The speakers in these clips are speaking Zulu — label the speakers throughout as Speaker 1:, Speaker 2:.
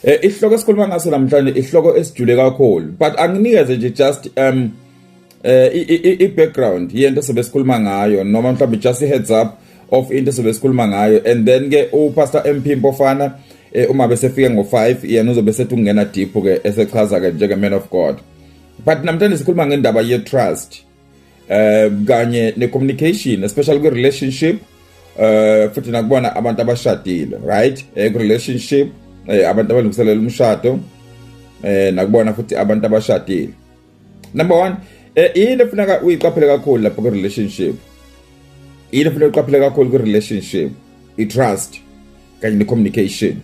Speaker 1: Eh isihloko esikhuluma ngaso namhlanje isihloko esijule kakhulu but anginikeze nje just um eh i background yento sebesikhuluma ngayo noma mhlawumbe just i heads up of into sebesikhuluma ngayo and then ke u Pastor MP Mpofana eh, uma bese fike ngo5 yena uzobe sethu kungena deep ke esechaza ke njenge man of God but namhlanje sikhuluma ngendaba ye trust um kanye ne-communication especially kwi-relationship um futhi nakubona abantu abashadile right um kwi-relationship um abantu abalungiselela umshado um nakubona futhi abantu abashadile number one um yini efuneka uyiqaphele kakhulu lapho kwi-relationship yini efuneka uyiqaphele kakhulu kwi-relationship i-trust kanye ne-communication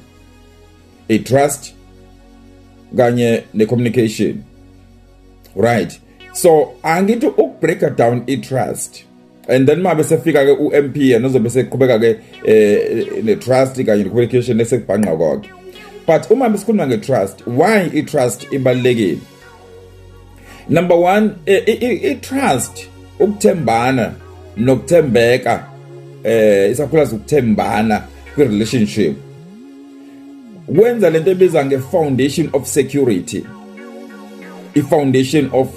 Speaker 1: i-trust kanye ne-communication right so angithi ukubreaker down i-trust and then mabe sefika ke uMP yena uzobe seqhubeka ke eh, netrust kanye necommunication esekubhanqa konke but uma besikhuluma ngetrust why itrust ibalekile number 1 eh, itrust ukuthembana nokuthembeka eh isakhula sokuthembana kwi relationship kwenza lento ebiza nge foundation of security i foundation of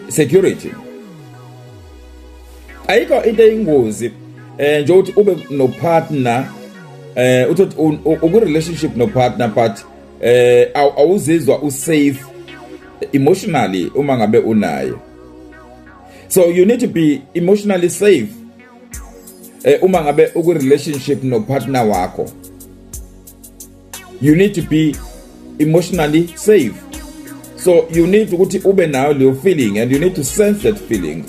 Speaker 1: security ayikho into eyingozi eh nje uthi ube no partner eh uthi uku relationship no partner but eh awuzizwa u safe emotionally uma ngabe unaye so you need to be emotionally safe eh uma ngabe uku relationship no partner wakho you need to be emotionally safe so you need ukuthi ube nayo leyo feeling and you need to sense that feeling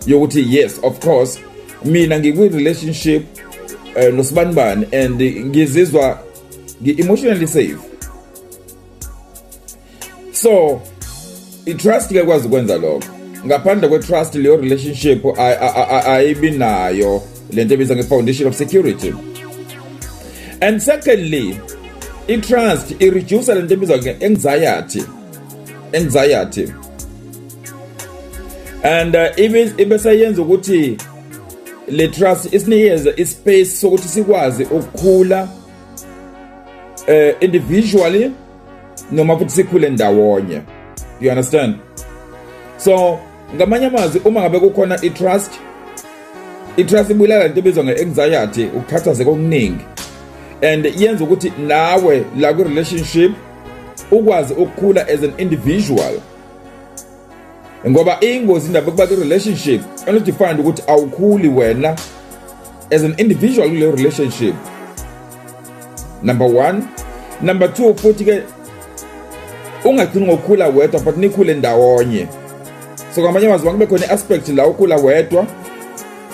Speaker 1: yokuthi yes of course mina ngikwi relationship uh, eh, nosibanibani and ngizizwa ngi emotionally safe so i-trust kuyakwazi ukwenza lokho ngaphandle kwe-trust leyo relationship ayibi nayo le nto ebiza nge-foundation of security and secondly i-trust i-reduce le nto ebizwa nge-anxiety anxiety and uh, ibe seyenza ukuthi le trust isinikeze ispace sokuthi sikwazi ukukhula uh, individually noma futhi sikhule ndawonye you understand so ngamanye amazwi uma ngabe kukhona i-trust i-trust ibulala into ebizwa nge-anxiety ukukhathazeka okuningi and yenza ukuthi nawe la kwi-relationship ukwazi ukukhula as an individual ngoba ingozi indaba yokuba kwi-relationship and to find ukuthi awukhuli wena as an individual kule relationship number one number two futhi ke ungagcini ngokukhula wedwa but nikhule ndawonye so kwamanye amazwi kube khona i-aspect la ukhula wedwa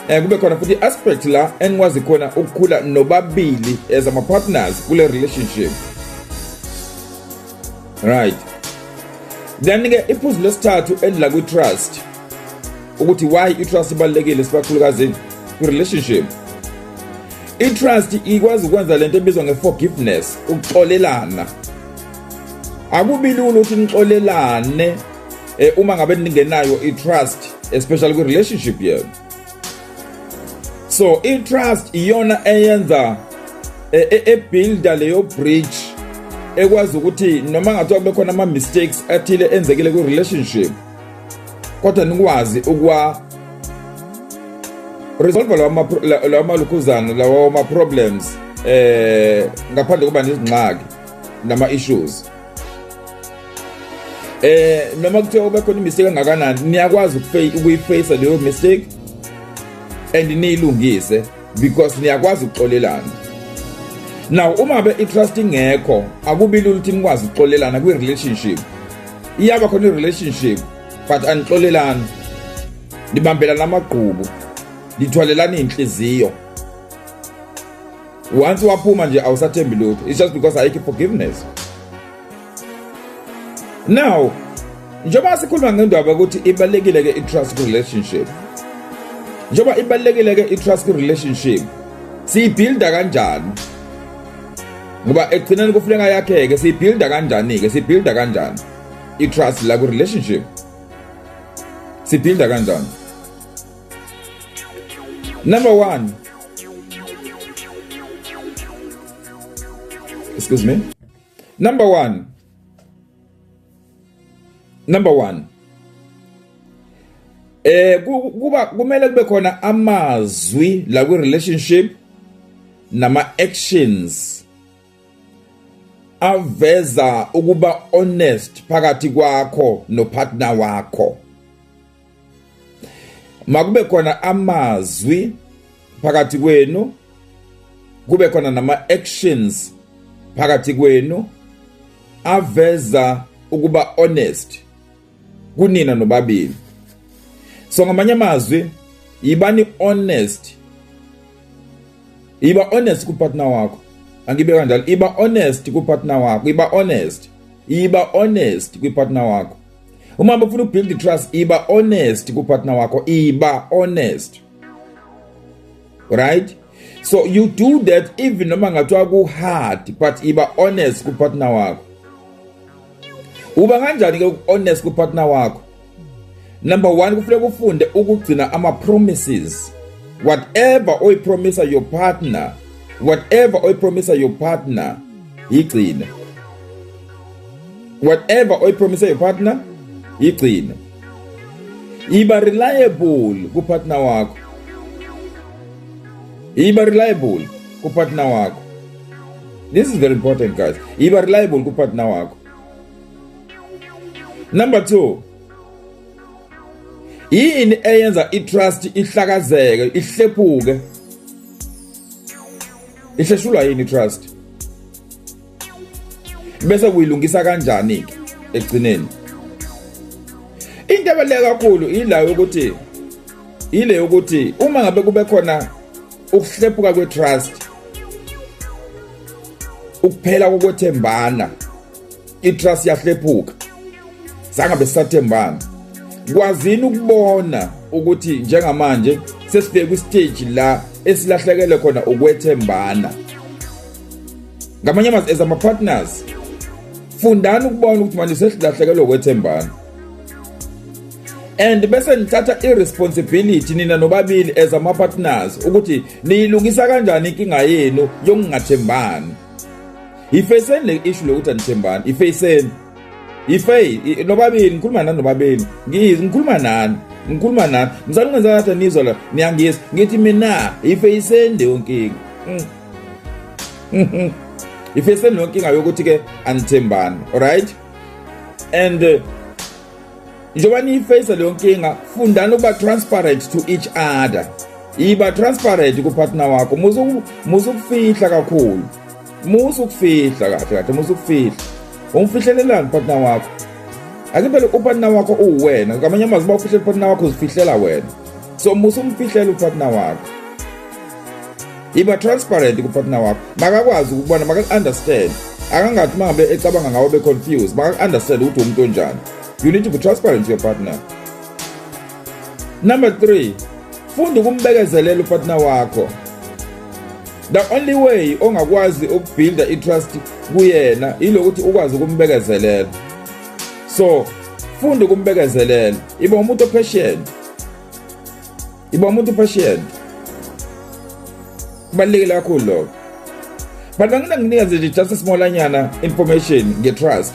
Speaker 1: um kube khona futhi i-aspect la enikwazi khona ukukhula nobabili as ama-partners kule relationship right then ke iphuzu lesithathu elidla kwi trust ukuthi why i trust ibalekile sibakhulukazi ku relationship i trust ikwazi ukwenza lento ebizwa nge forgiveness ukuxolelana akubilula ukuthi nixolelane eh, uma ngabe ningenayo i trust especially kwi relationship yenu so i-trust iyona eyenza e, e, ebuilda leyo bridge ekwazi ukuthi noma ngathiwa kube khona ama-mistakes athile enzekile kwi-relationship kodwa nikwazi ukuwa resolve lawa malukhuzana lawa ma-problems eh ngaphandle kuba nezingxaki nama-issues eh noma kuthe obe khona imistake engakanani niyakwazi ukuyiface leyo mistake and niyilungise because niyakwazi ukuxolelana now uma be itrust ingekho akubi lula ukuthi nikwazi ukuxolelana kwi relationship iyaba khona i-relationship but anixolelani nibambelana amagqubu nithwalelana iy'nhliziyo once waphuma nje awusathembi lutho it's just because ayikho forgiveness now njengoba sikhuluma ngendaba ukuthi ibalekile ke i-trust relationship njengoba ibalekile ke i-trust relationship siyibuilda kanjani ngoba ekugcineni kufuneka yakheke siyibuilda kanjani ke siyibuilda kanjani i-trust la ku relationship sibuilda kanjani Number one. Excuse me. Number one. Number one. Eh kuba kumele kube khona amazwi la kwi relationship nama actions aveza ukuba honest phakathi kwakho no partner wakho makube khona amazwi phakathi kwenu kube khona nama-actions phakathi kwenu aveza ukuba honest kunina nobabili so ngamanye amazwi yibani honest yiba honest kupartner wakho angibe kanjalo iba honest kupartner wakho iba honest iba honest kwipartner wakho uma ufuna ukubuild trust iba honest ku partner wakho iba honest right so you do that even noma ngathiwa ku hard but iba honest ku partner wakho uba kanjani ke honest ku partner wakho number 1 kufanele ufunde ukugcina ama promises whatever oyipromisa your partner whatever oyipromisa your partner yigcine whatever oyipromise your partner yigcine iba reliable kupartner wakho iba reliable kupartner wakho this is very important guys iba reliable kupartner wakho number 2 yini eyenza itrust ihlakazeke ihlephuke ihleshulwa yini trust bese kuyilungisa kanjani ke ekugcineni into ebaluleke kakhulu ila yokuthi ile yokuthi uma ngabe kube khona ukuhlephuka kwetrust ukuphela kokwethembana itrust yahlephuka sangabe sisathembana kwazini ukubona ukuthi njengamanje sesibheka kwistage la esilahlekele khona ukwethembana ngamanye amazwi as ama partners fundani ukubona ukuthi manje sesilahlekele ukwethembana and bese nithatha iresponsibility nina nobabili as ama partners ukuthi niyilungisa kanjani inkinga yenu yokungathembani yifeyiseni le issue lokuthi anithembani yifeyiseni yifeyi nobabili ngikhuluma nani nobabili ngiyizi ngikhuluma nani ngikhuluma nani msani ungenza ngathi anizwa la niyangiyisa ngithi mina yifeyiseni leyo nkinga mm. yifeyiseni leyo nkinga yokuthi-ke anithembani alright and uh, njengoba niyifeyisa leyo nkinga fundani ukuba transparent to each other yiba transparent kupartner wakho muze ukufihla kakhulu musa ukufihla kahle kahle musa ukufihla umfihlelelani partner wakho ake phela upartner wakho uwena kamanye amazwi uba ufihlele upartner wakho uzifihlela wena so musa umfihlele upartner wakho iba transparent kupartner wakho makakwazi ukubona maka-understand akangathi uma ngabe ecabanga ngawo be-confused maka-understand ukuthi umuntu onjani you need to be transparent to your partner number three funda ukumbekezelela upartner wakho the only way ongakwazi ukubuilda itrust kuyena ilokuthi ukwazi ukumbekezelela so funda ukumbekezelela iba umuntu opatient iba umuntu opatient kubalulekile kakhulu lokho but angina nginikeze nje just a smallanyana information nge-trust